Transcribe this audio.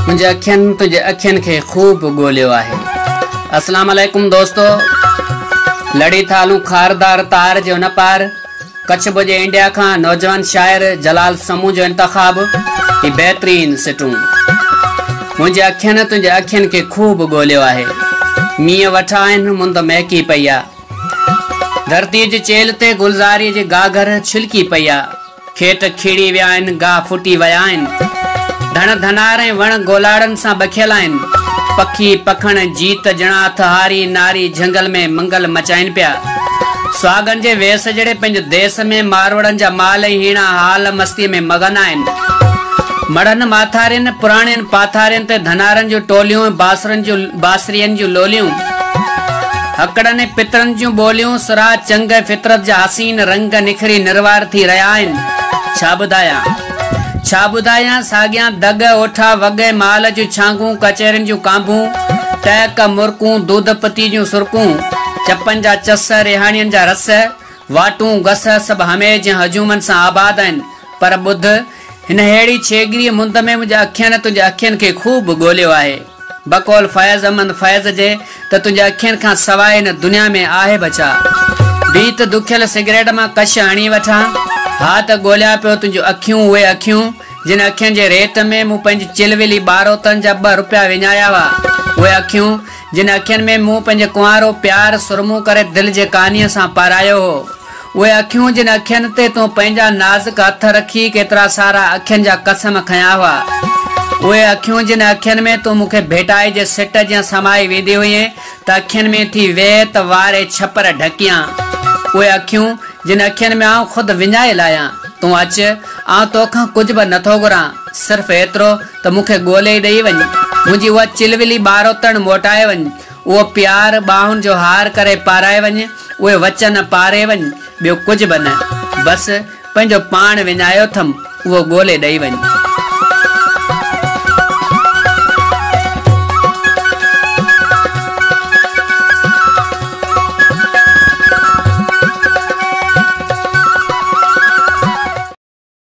منهنجي اکين تنهنجي اکين کي خوب ڳوليو آهي. السلام عليڪم دوستو لڙي ٿا هلون خاردار تار جي ان پار ڪڇ ڀڄي انڊيا کان نوجوان شاعر جلال سمون جو انتخاب هي بهترين سٽون منهنجي اکين تنهنجي اکين کي خوب ڳوليو آهي مينهن وٺا آهن مند مهڪي پئي آ ڌرتي جي چيلهه تي گلزاري جي گاگهر ڇلڪي پئي آ کيٽ کيڙي ويا آهن، گاهه ڦٽي ويا آهن. ڌڻ ڌنار ۽ وڻ گولاڙن سان بکيل آهن. پکي پکڻ، جيت جڻا اٿ هاري ناري جهنگل ۾ منگل مچائين پيا. سهاڳن جي ويس جهڙي پنهنجي ديس ۾ ماروئڙن جا مال ۽ هيڻا حال مستيء ۾ مغن آهن. مڙهن ماٿارين، پراڻين پاٿارين تي ڌنارن جون ٽوليون ۽ باسرن جون باسرين جون لوليون، هڪڙن ۽ پترن جون ٻوليون، سرها چنگ ۽ فطرت جا حسين رنگ نکري نروار ٿي رهيا آهن. ڇا ٻڌايان؟ ڇا ٻڌايان؟ ساڳيان دڳ، اوٺا وڳ ۽ مال جون ڇانگون، ڪچهرين جون ڪانڀون، ٽهڪ، مرڪون، دودپتي جون سرڪون، چپن جا چس، ريهاڻين جا رس، واٽون، گس، سڀ هميش جيان هجومن سان آباد آهن، پر ٻڌ، هنهڙي ڇيڳريء مند ۾ منهنجي اکين تنهنجي اکين کي خوب ڳوليو آهي. بقول فيض احمد فيض جي ته تنهنجي اکين کان سواء هن دنيا ۾ آهي به ڇا؟ بيت، دکيل سگريٽ مان ڪش هڻي وٺان ها ته ڳوليان پيو تنهنجون اکيون، اهي اکيون، جن اکين جي ريٽ ۾ مون پنهنجي چلولي ٻاروتن جا ٻه روپيا وڃايا هئا، اهي اکيون، جن اکين ۾ مون پنهنجي ڪنوارو پيار سرمو ڪري دل جي ڪانيء سان پارايو هو، اهي اکيون جن اکين تي تون پنهنجا نازڪ هٿ رکي ڪيترا سارا اکين جا قسم کنيا هئا، اهي اکيون جن اکين ۾ تون مون کي ڀيٽائي جي سٽ جيان سمائي ويندي هئين ته اکين ۾ ٿي ويت واري ڇپر ڍڪيان، اهي اکيون جن اکين ۾ آئون خود وڃائي لاهيان، تون اچ، آئون توکان ڪجهه به نٿو گهران، صرف ايترو ته مون کي ڳولي ڏئي وڃ، منهنجي اها چلولي ٻاروتڻ موٽائي وڃ، اهو پيار ٻانهن جو هار ڪري پارائي وڃ، اهي وچن پاري وڃ، ٻيو ڪجهه به نه، بس پنهنجو پاڻ وڃايو اٿم، اهو ڳولي ڏئي وڃ.